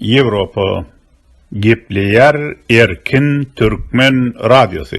Ýewropa gepleýär erkin türkmen radiosy.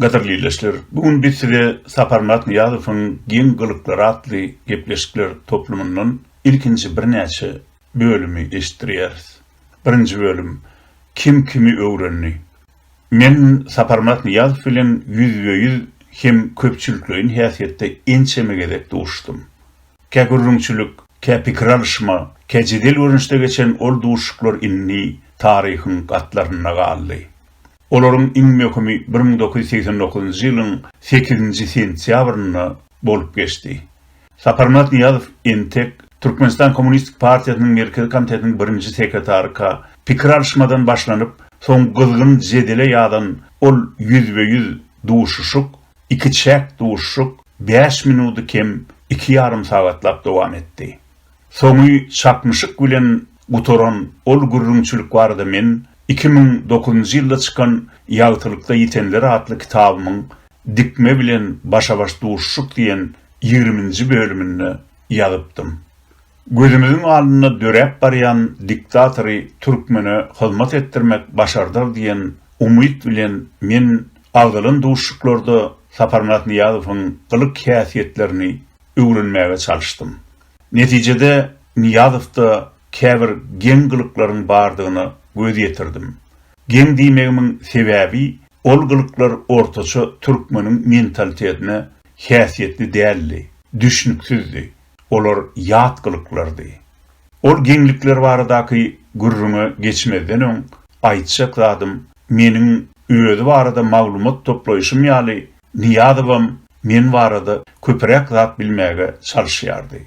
Gadyrly ildeşler, bu gün biz size Saparmyrat Nyýazowyň geň gylyklary atly gepleşikler toplumyndan ilkinji birnäçe bölümi eşitdirýäris. Birinji bölüm, Kim kimi öwrendi? Men Saparmyrat Nyýazow bilen ýüzbe-ýüz hem köpçülikleýin häsiýetde ençeme gezek duşdum. Kä gürrüňçilik, kä pikir alyşma, kä jedel görnüşde geçen ol duşuşyklar indi taryhyň gatlarynda galdy. Olaryň iň möhümi bir müň dokuz ýüz segsen dokuzynjy ýylyň sekizinji sentýabrynda bolup geçdi. Saparmyrat Nyýazow entek Türkmenistan Kommunistik partiýasynyň Merkezi komitetiniň birinji sekretaryka pikir alyşmadan başlanyp, soň gyzgyn jedele ýazan ol ýüzbe-ýüz duşuşyk, ikiçäk duşuşyk bäş minudy kem iki ýarym sagatlap dowam etdi. Soňy çaknyşyk bilen gutaran ol gürrüňçilik barada men iki müň dokuzynjy ýylda çykan Ýagtylykda ýitenler atly kitabymyň Dikme bilen başa-baş duşuşyk diýen ýigriminji bölüminde ýazypdym. Gözümiziň alnynda döräp barýan diktatory türkmene hyzmat etdirmek başardar diýen umyt bilen men agzalan duşuşyklarda Saparmyrat Nyýazowyň gylyk-häsiýetlerini öwrenmäge çalyşdym. Netijede, Nyýazowda käbir geň gylyklaryň bardygyna göz ýetirdim. Geň diýmegimiň sebäbi, ol gylyklar ortaça türkmeniň mentalitetine häsiýetli däldi, düşnüksizdi, olar ýat gylyklardy. Ol geňlikler baradaky gürrüňe geçmezden öň, aýtjak zadym, meniň özi barada maglumat toplaýşym ýaly, Nyýazowam men barada köpüräk zat bilmäge çalyşýardy.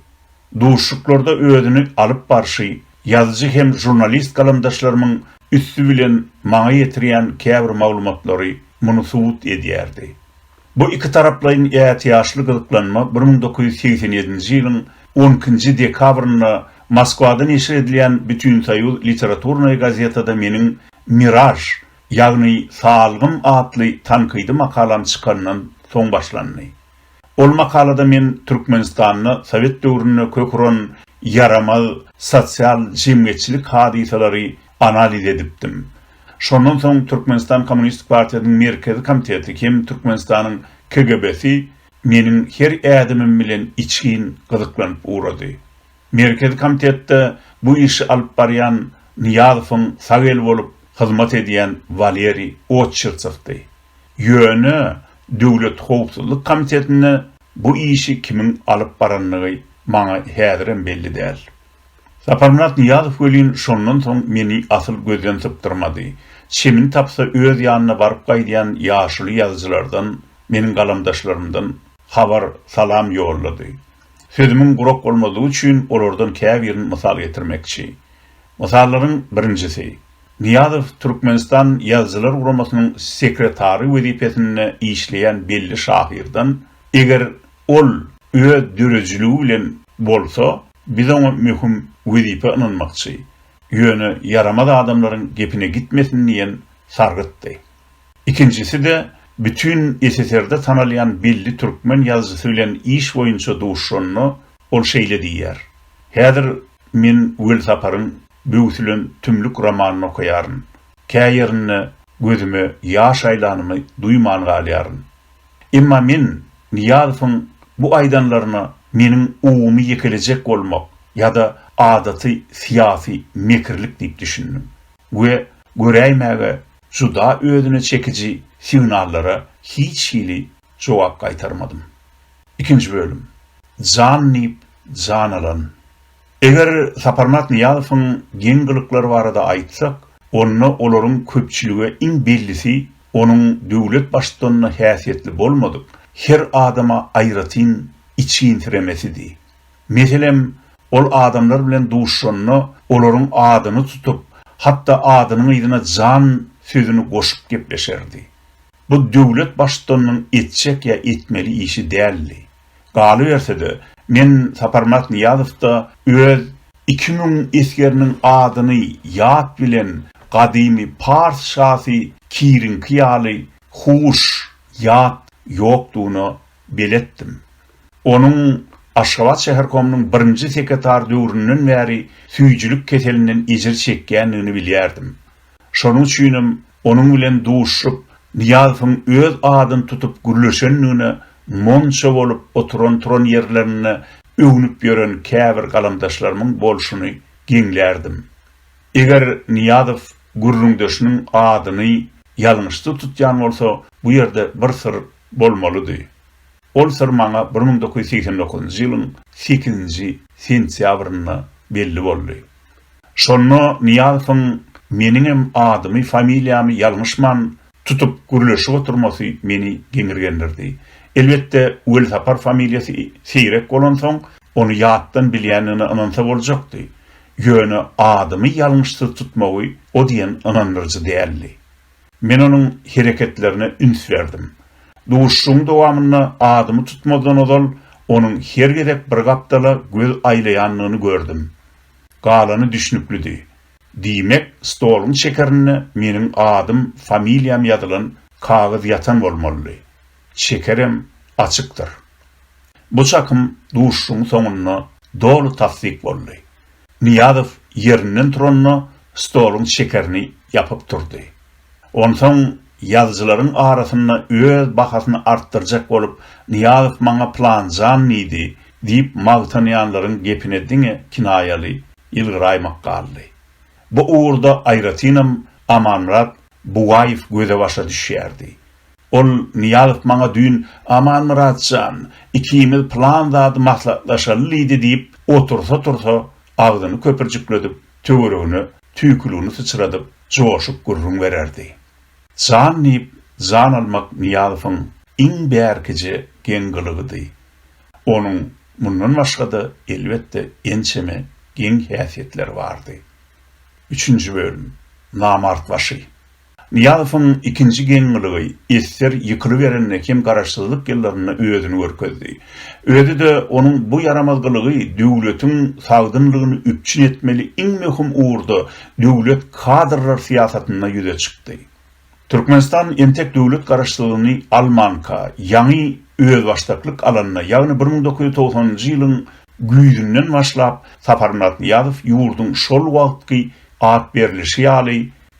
Duşuşyklarda özüni alyp barşy, ýazyjy hem žurnalist galamdaşlarymyň üsti bilen maňa ýetirýän käbir maglumatlary muny subut edýärdi. Bu ikitaraplaýyn ätiýaçly gyzyklanma bir müň dokuz ýüz segsen ýedinji ýylyň on ikinji dekabrynda Moskwada neşir edilýän Bütünsoýuz literaturnaya gazetada meniň Miraž ýagny Salgym atly tankydy makalam çykandan soň başlandy. Ol makalada men Türkmenistanda sowet döwründe kök uran ýaramaz sosial-jemgyýetçilik hadysalary analiz edipdim. Şondan soň Türkmenistan Kommunistik partiýasynyň Merkezi komiteti hem Türkmenistanyň KGB-si meniň her ädimim bilen içgin gyzyklanyp ugrady. Merkezi komitetde bu işi alyp barýan Nyýazowyň sag eli bolup hyzmat edýän Waleriý Otçyrsowdy. Ýöne Döwlet howpsuzlyk komitetinde bu işi kimiň alyp barandygy maňa häzirem belli däl. Saparmyrat Nyýazow welin şondan soň meni asyl gözden sypdyrmady. Çemini tapsa öz ýanyna baryp gaýdýan ýaşuly ýazyjylardan, meniň galamdaşlarymdan habar, salam ýollady. Sözümiň gurak bolmazlygy üçin olardan käbirini mysal getirmekçi. Mysallaryň birinjisi. Nyýazow Türkmenistan Ýazyjylar guramasynyň sekretary wezipesinde işleýän belli şahyrdan, Eger ol öz döredijiligi bilen bolsa, biz oňa möhüm wezipe ynanmakçy, ýöne ýaramaz adamlaryň gepine gitmesin diýen sargytdy. Ikinjisi-de bütin SSR-de tanalýan belli türkmen ýazyjysy bilen iş boýunça duşuşanda ol şeýle diýýär, Häzir men Welsaparyň Böwsülen tümlük romanyny okaýaryn. Kä ýerinde gözüme ýaş aýlanymy duýman galýaryn. Emma men Nyýazowyň bu aýdanlaryna meniň ogumy ýekelejek bolmak ýa-da adaty syýasy mekirlik diýip düşündim we göräýmäge Juda özüne çekiji signallara hiç hili jogap gaýtarmadym. Ikinji bölüm. Jan diýip jan alan. Eger Saparmyrat Nyýazowyň geň gylyklary barada aýtsak, onda olaryň köpçülige iň bellisi onuň döwlet baştutanyna häsiýetli bolmadyk her adama aýratyn içginsiremesidi. Meselem, ol adamlar bilen duşanda olaryň adyny tutup, hatda adynyň yzyna jan sözüni goşup gepleşerdi. Bu döwlet baştutanynyň etjek ýa etmeli işi däldi. Galyberse-de, men Saparmyrat Nyýazowda öz iki müň esgeriniň adyny ýat bilen gadymy pars şasy Kiriňki ýaly huş, ýat ýokdugyna beletdim. Onuň Aşgabat şäherkomynyň birinji sekretary döwründen bäri süýjülik keselinden ejir çekýändigini bilýärdim. Şonuň üçinem onuň bilen duşup, Nyýazowyň öz adyny tutup gürleşendigine monça bolup oturan-turan ýerlerinde öwnüp ýören käbir galamdaşlarymyň bolşuny geňlärdim. Eger Nyýazow gürrüňdeşiniň adyny ýalňyşda tutýan bolsa, bu ýerde bir syr bolmalydy. Ol syr maňa bir müň dokuz ýüz segsen dokuzynjy ýylyň sekizinji sentýabrynda belli boldy. Şonda Nyýazowyň meniňem adymy, familiýamy ýalňyşman tutup gürleşip oturmasy meni geňirgendirdi. Elbetde, Welsapar familiýasy seýrek bolansoň, ony ýatdan bilýändigine ynansa boljakdy. Ýöne adymy ýalňyşsyz tutmagy o diýen ynandyryjy däldi. Men onuň hereketlerine üns berdim. Duşuşygyň dowamynda adymy tutmazdan ozal onuň her gezek bir gapdala göz aýlaýandygyny gördüm. Galany düşnüklidi. Diýmek, stoluň çekerinde meniň adym, familiýam ýazylan kagyz ýatan bolmalydy. çekerem açykdyr. Bu çakym duşuşygyň soňunda doly tassyk boldy. Nyýazow ýerinden turanda stoluň çekerini ýapyp durdy. Onsoň ýazyjylaryň arasynda öz bahasyny artdyrjak bolup Nyýazow maňa pylanjan diýdi diýip magtanýanlaryň gepine diňe kinaýaly ýylgyraýmak galdy. Bu ugurda aýratynam Amanmyrat Bugaýew göze-başa düşýärdi. Ol, Nyýazow maňa düýn, Amanmyrat jan, ikimiz pylan zady maslahatlaşaly diýdi diýip, otursa-tursa, agzyny köpürjikledip, töweregine tüýküligini syçradyp, joşup gürrüň bererdi. Jan diýip jan almak Nyýazowyň iň bärkije geň gylygydy. Onuň mundan başga-da, elbetde, ençeme geň häsiýetleri bardy. Üçünji bölüm. Namart başy. Nyýazowyň ikinji geň-gylygy esser ýykylyberende hem garaşsyzlyk ýyllarynda özüni görkezdi. Özi-de onuň bu ýaramaz gylygy döwletiň sagdynlygyny üpjün etmeli iň möhüm ugurda döwlet kadrlar syýasatynda ýüze çykdy. Türkmenistan entek döwlet garaşsyzlygyny almanka, ýaňy özbaşdaklyk alanda, ýagny bir müň dokuz ýüz togsanynjy ýylyň güýzünden başlap Saparmyrat Nyýazow ýurduň şol wagtky at berlişi ýaly,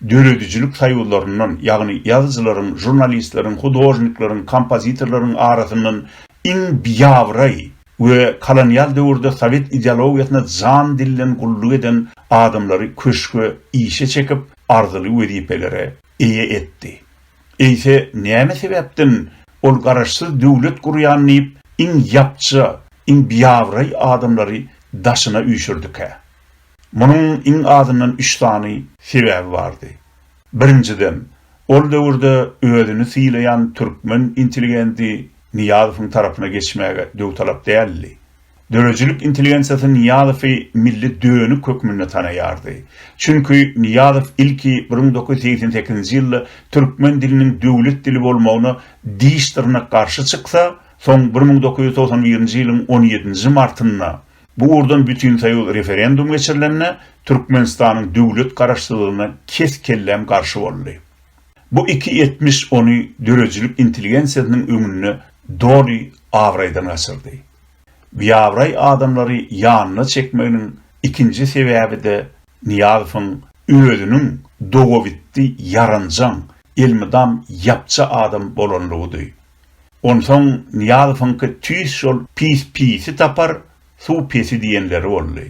döredijilik soýuzlaryndan, ýagny ýazyjylaryň, žurnalistleriň, hudožnikleriň, kompozitorlaryň arasyndan iň biabraý we kolonial döwürde sowet ideologiýasyna jan-dilden gulluk eden adamlary köşge işe çekip, arzyly wezipelere eýe etdi. Eýse, näme sebäpden ol garaşsyz döwlet gurýan diýip, iň ýapja, iň biabraý adamlary daşyna üýşürdikä? Munuň iň azyndan üç sany sebäbi bardy. Birinjiden, ol döwürde özüni sylaýan türkmen intelligendi Nyýazowyň tarapyna geçmäge döwtalap däldi. Döredijilik intelligensiýasy Nyýazowy milli dönük hökmünde tanaýardy. Çünki Nyýazow ilki bir müň dokuz ýüz segsen sekizinji ýylda türkmen diliniň döwlet dili bolmagyna diş-dyrnak garşy çyksa, soň bir müň dokuz ýüz togsan birinji ýylyň on ýedinji martynda Bu ugurdan bütinsoýuz referendum geçirilende Türkmenistanyň döwlet garaşsyzlygyna kes-kelläm garşy boldy. Bu iki etmiş ony döredijilik intelligensiýasynyň öňünde doly abraýdan gaçyrdy. Biabraý adamlary ýanyna çekmeginiň ikinji sebäbi-de Nyýazowyň özüniň dogabitdi, ýaranjaň, elmydam ýapja adam bolanlygydy. Onsoň Nyýazowyňky tüýs şol pis pisi tapar, suw pesi diýenleri boldy.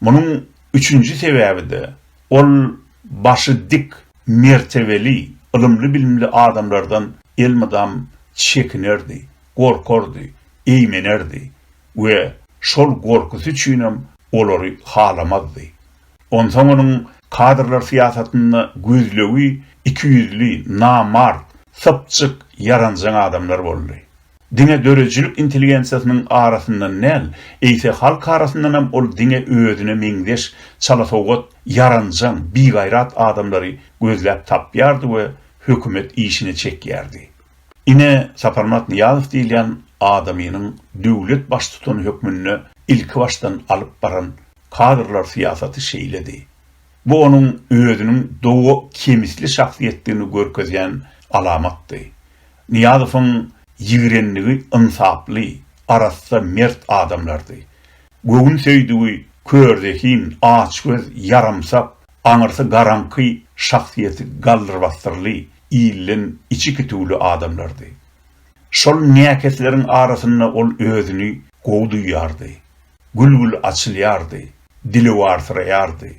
Munuň üçünji sebäbi-de, ol başy dik, mertebeli, ylymly-bilimli adamlardan elmydam çekinerdi, gorkardy, eýmenerdi we şol gorkysy üçinem olary halamazdy. Onsoň onuň kadrlar syýasatynda gözlegi ikiýüzli, namart, sypjyk, ýaranjaň adamlar boldy. Diňe döredijilik intelligensiýasynyň arasyndan däl, eýse halk arasyndanam ol diňe özüne meňzeş çalasowgat, ýaranjaň, bigaýrat adamlary gözläp tapýardy we hökümet işine çekýärdi. Ine, Saparmyrat Nyýazow diýilýän adamynyň döwlet baştutany hökmünde ilkibaşdan alyp baran Kadrlar syýasaty şeýledi. Bu onuň özüniň doga kemisli şahsyýetdigini görkezýän alamatdy. Nyýazowyň ýigrenligi ynsaply, arassa, mert adamlardy. Göwünsöýdügi körzehin, açgöz, ýaramsak, aňyrsy garaňky, şahsyýeti galdyrbasdyrly, ilden içi kitüwli adamlardy. Şol näkesleriň arasynda ol özüni gowy duýýardy. gül-gül açylýardy, dili warsyraýardy.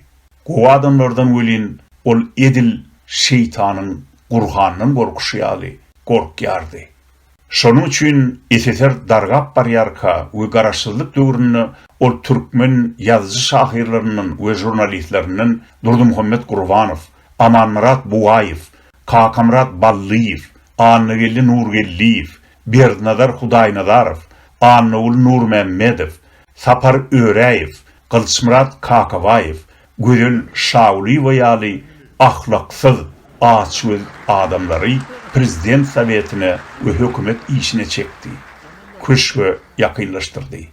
Gowy adamlardan welin ol edil şeýtanyň gurhandan gorkuşy ýaly gorkýardy. Şonuň üçin SSR dargap barýarka we garaşsyzlyk döwründe ol türkmen ýazyjy-şahyrlaryndan we žurnalistlerinden Durdymuhammet Gurbanow, Amanmyrat Bugaýew, Kakamyrat Ballyýew, Annageldi Nurgeldiýew, Berdinazar Hudaýnazarow, Annaguly Nurmämmedow, Sapar Öräýew, Gylyçmyrat Kakabaýew, Gözel Şagulyýewa ýaly ahlaksyz, açgöz adamlary Prezident Sowetine we hökümet işine çekdi, köşge ýakynlaşdyrdy.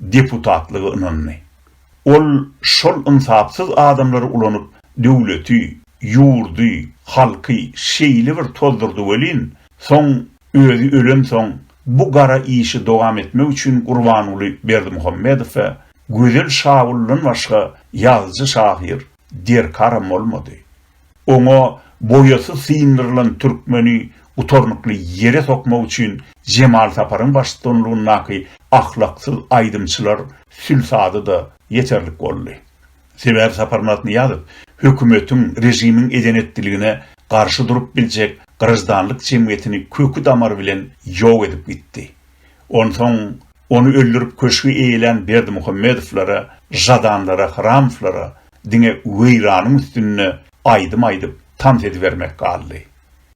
deputatlygy ynandy. Ol şol ynsapsyz adamlary ulanyp döwleti, ýurdy, halky şeýle bir tozdurdy welin, soň özi ölensoň bu gara işi dowam etmek üçin Gurbanguly Berdimuhamedow we Gözel Şawuldan başga ýazyjy-şahyr derkaram bolmady. Oňa boýasy syndyrylan türkmeni gutarnykly ýere sokmak üçin Jemal Saparyň baştutanlygyndaky ahlaksyz aýdymçylar sülsady-da ýeterlik boldy. Sebäbi Sapar Myratnyýazow hökümetiň, režimiň eden-etdiligine garşy durup biljek graždanlyk jemgyýetini köki-damary bilen ýok edip gitdi. Onsoň ony öldürip köşgi eýelän Berdimuhamedowlara, Žadanlara, Hramowlara diňe weýranyň üstünde aýdym aýdyp, tans edibermek galdy.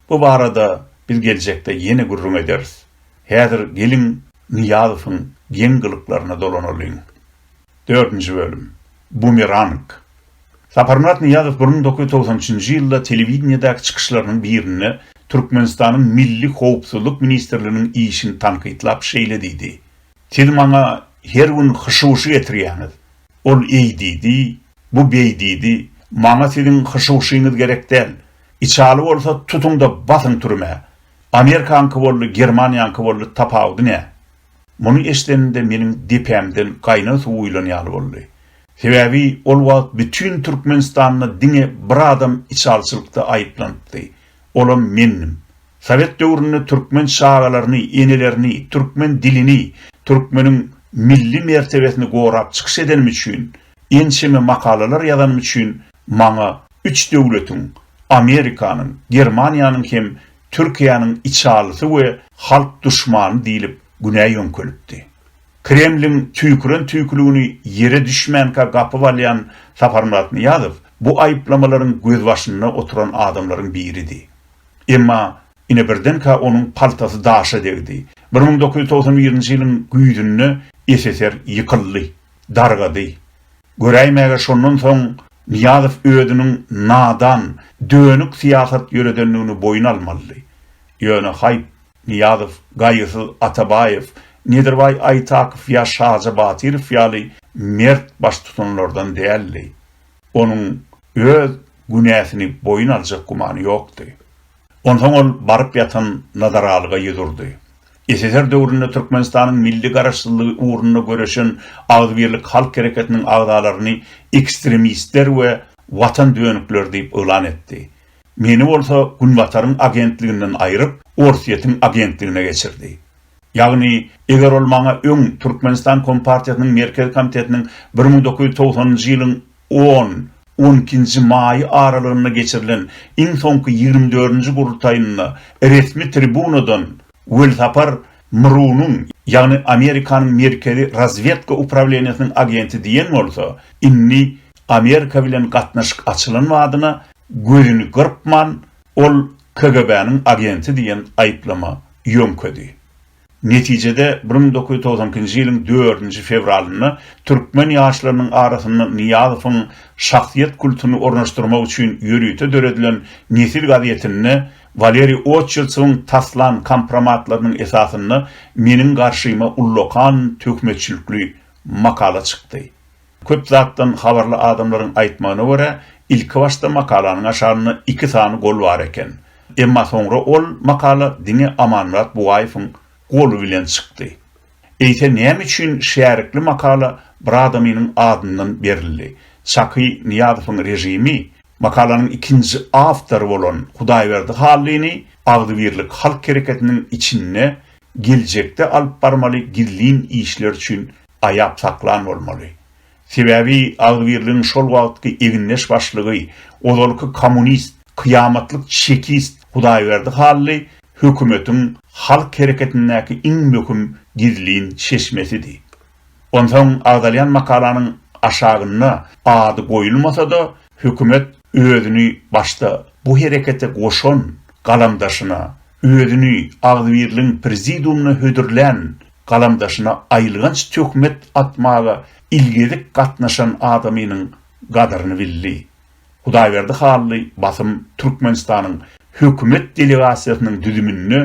Bu barada biz geljekde ýene gürrüň ederis. Häzir geliň Nyýazowyň geň gylyklaryna dolanalyň. Dördünji bölüm. Bumerang. Saparmyrat Nyýazow bir müň dokuz ýüz togsan üçünji ýylda telewideniýedäki çykyşlarynyň birinde Türkmenistanyň Milli howpsuzlyk ministrliginiň işini tankytlap şeýle diýdi, Siz maňa her gün hyşy-wyşy getirýäňiz, ol eý diýdi, bu beý diýdi, maňa siziň hyşy-wyşyňyz gerek däl, içaly bolsa tutuň-da basyň türmä. Amerikaňky boldy, Germaniýaňky boldy, tapawudy nä? Muny eşidenimde meniň depämden gaýnar suw guýlan ýaly boldy. Sebäbi ol wagt bütin Türkmenistanda diňe bir adam içalçylykda aýyplanypdy. Olam mendim. Sowet döwründe türkmen çagalaryny, enelerini, türkmen dilini, türkmeniň milli mertebesini gorap çykyş edenim üçin, ençeme makalalar ýazanym üçin maňa üç döwletiň, Amerikanyň, Germaniýanyň hem Türkiýäniň içalysy we halk duşmany diýlip günä ýöňkelipdi. Kremliň tüýküren tüýküligini ýere düşmänkä gapyp alýan Saparmyrat Nyýazow bu aýyplamalaryň gözbaşynda oturan adamlaryň biridi. Emma ine birdenkä onuň paltasy daşa degdi. Bir müň dokuz ýüz togsan birinji ýylyň güýzünde SSR ýykyldy. dargady. Göräýmäge şondan soň Nyýazow özüniň nadan, dönük syýasat ýöredendigini boýun almalydy. Ýöne haýp, Nyýazow gaýgysyz Atabaýew, Nedirbaý Aýtakow ýa Şaja Batyrow ýaly mert baştutanlardan däldi. Onuň öz günäsini boýun aljak gümany ýokdy. Onsoň ol baryp ýatan Nazaralyga ýüz urdy. SSR döwründe Türkmenistanyň milli garaşsyzlygy ugrunda göreşen Agzybirlik halk hereketiniň agzalaryny ekstremistler we watan dönükleri diýip yglan etdi. Meni bolsa Günbataryň agentliginden aýryp, Orsýetiň agentligine geçirdi. Ýagny, eger ol maňa öň Türkmenistan Kompartiýasynyň Merkezi Komitetiniň bir müň dokuz ýüz togsanynjy ýylyň On, on ikinji maý aralygynda geçirilen iň soňky ýigrimi dördünji gurultaýynda resmi tribunadan Welsapar Mrunyň, ýagny Amerikanyň Merkezi razwedka uprawleniýesiniň agenti diýen bolsa, indi Amerika bilen gatnaşyk açylan badyna gözüni gyrpman, ol KGB-niň agenti diýen aýyplama ýöňkedi. Netijede, bir müň dokuz ýüz togsan ikinji ýylyň dördünji fewralynda türkmen ýaşlarynyň arasynda Nyýazowyň şahsyýet kultuny ornaşdyrmak üçin ýörite döredilen Nesil gazetinde Waleriý Oçertsowyň taslan kompromatlarynyň esasynda meniň garşyma ullakan töhmetçilikli makala çykdy. Köp zatdan habarly adamlaryň aýtmagyna görä, ilkibaşda makalanyň aşagynda iki sany gol bar eken. Emma soňra ol makala diňe Amanmyrat Bugaýewiň goly bilen çykdy. Eýse näme üçin şärikli makala bir adamynyň adyndan berildi? Çaky Nyýazowyň režimi makalanyň ikinji awtory bolan Hudaýberdi Hallyny Agzybirlik halk hereketiniň içinde geljekde alyp barmaly gizlin işler üçin aýap saklan bolmaly. Sebäbi Agzybirligiň şol wagtky egindeş başlygy, ozalky kommunist, kyýamatlyk çekist Hudaýberdi Hally hökümetiň halk hereketindäki iň möhüm gizlin çeşmesidi. Onsoň agzalýan makalanyň aşagynda ady goýulmasa-da, hökümet özüni başda bu herekete goşan galamdaşyna, özüni Agzybirligiň prezidiumyna hödürlän galamdaşyna aýylganç töhmet atmaga ilgezik gatnaşan adamynyň gadyryny bildi. Hudaýberdi Hally basym Türkmenistanyň hökümet delegasiýasynyň düzüminde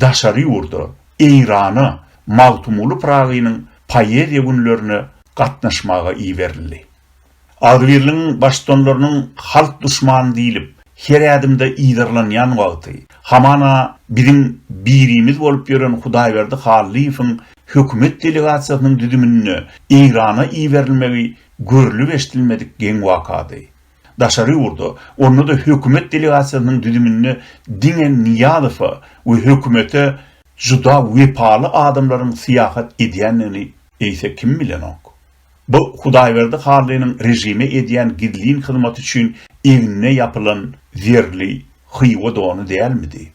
daşary ýurda, Eýrana, Magtymguly Pyragynyň poeziýa günlerine gatnaşmaga iberildi. Agzybirligiň baştutanlarynyň halk duşmany diýlip, her ädimde yzarlanýan wagty, hamana biziň birimiz bolup ýören Hudaýberdi Hallyýewiň hökümet delegasiýasynyň düzüminde Eýrana iberilmegi görlüp-eşdilmedik geň wakady. Daşary ýurda, onda-da hökümet delegasiýasynyň düzüminde diňe Nyýazowa we hökümete juda wepaly adamlaryň syýahat edýändigini eýse kim bilenok? Bu Hudaýberdi Hallynyň režime edýän gizlin hyzmaty üçin egnine ýapylan zerli Hywa dony dälmidi?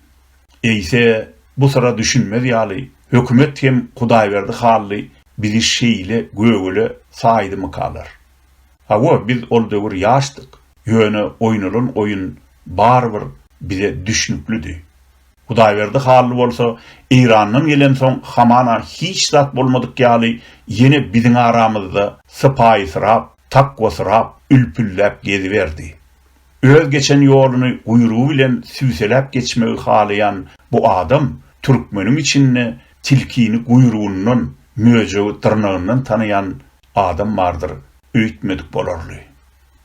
Eýse, bu syra düşünmez ýaly, hökümet hem Hudaýberdi Hally bizi şeýle gögele saýdymykalar? Hawa, biz ol döwür ýaşdyk, ýöne oýnalan oýun barybir bize düşnüklidi. Hudaýberdi Hally bolsa, Eýrandan gelensoň hamana hiç zat bolmadyk ýaly ýene biziň aramyzda sypaýysyrap, takwasyrap, ülpülläp geziberdi. Öz geçen ýoluny guýrugy bilen süýseläp geçmegi halaýan bu adam türkmeniň içinde tilkini guýrugyndan, möjegi dyrnagyndan tanaýan adam bardyr öýtmedik bolarly.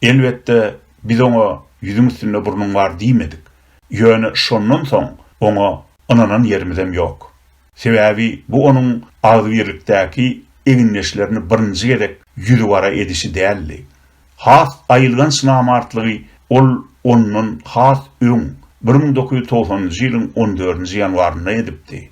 Elbetde, biz oňa ýüzüň üstünde burnuň bar diýmedik. Ýöne şondan soň oňa ynanan ýerimizem ýok. Sebäbi bu onuň agzybirlikdäki egindeşlerini birinji gezek ýüzügara edişi däldi. Has aýylganç namartlygy ol ondan has öň, bir müň dokuz ýüz togsanynjy ýylyň on dördünji ýanwarynda edipdi.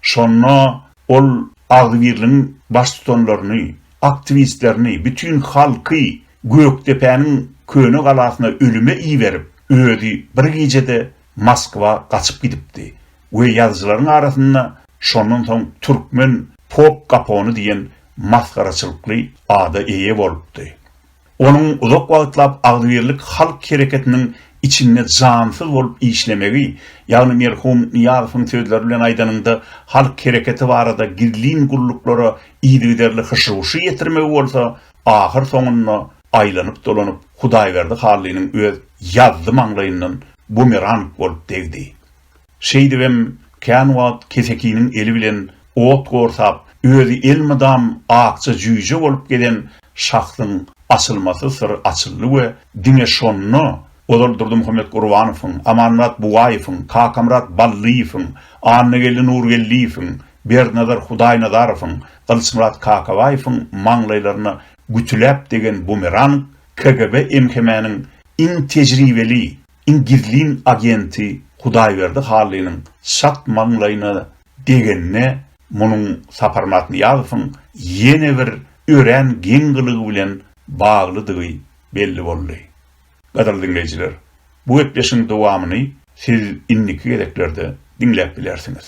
Şonda ol agzybirligiň baştutanlaryny, aktiwistlerini, bütin halky Gökdepäniň köne galasyna ölüme iberip, özi bir gijede Moskwa gaçyp gidipdi we ýazyjylaryň arasynda şondan soň türkmen pop kapony diýen masgaraçylykly ada eýe bolupdy. Onuň uzak wagtlap agzybirlik halk hereketiniň içinde jansyz bolup işlemegi, ýagny merhum Nyýazowyň sözleri bilen aýdanyňda, halk hereketi barada gizlin gulluklara yzygiderli hyş-huşy ýetirmegi bolsa, ahyr soňunda aýlanyp-dolanyp Hudaýberdi Hallynyň öz ýazzy maňlaýyndan bumerang bolup degdi. Şeýdibem, kän wagt kesekiniň eli bilen ot gorsap, özi elmydam akja jüýje bolup gezen şahsyň açylmasyz syry açyldy we diňe şonda ozal Durdymuhammet Gurbanowyň, Amanmyrat Bugaýewiň, Kakamyrat Ballyýewiň, Annageldi Nurgeldiýewiň, Berdinazar Hudaýnazarowyň, Gylyçmyrat Kakabaýewiň maňlaýlaryna gütüläp degen bumerang KGB-MHM-niň iň tejribeli Iň gizlin agenti Hudaýberdi Hallynyň çat maňlaýyna degenine munuň Sapar Matnyýazowyň ýene bir örän geň gylygy bilen baglydygy belli boldy. Gadyrly diňleýjiler, bu gepleşigiň dowamyny siz indiki gezeklerde diňläp bilersiňiz.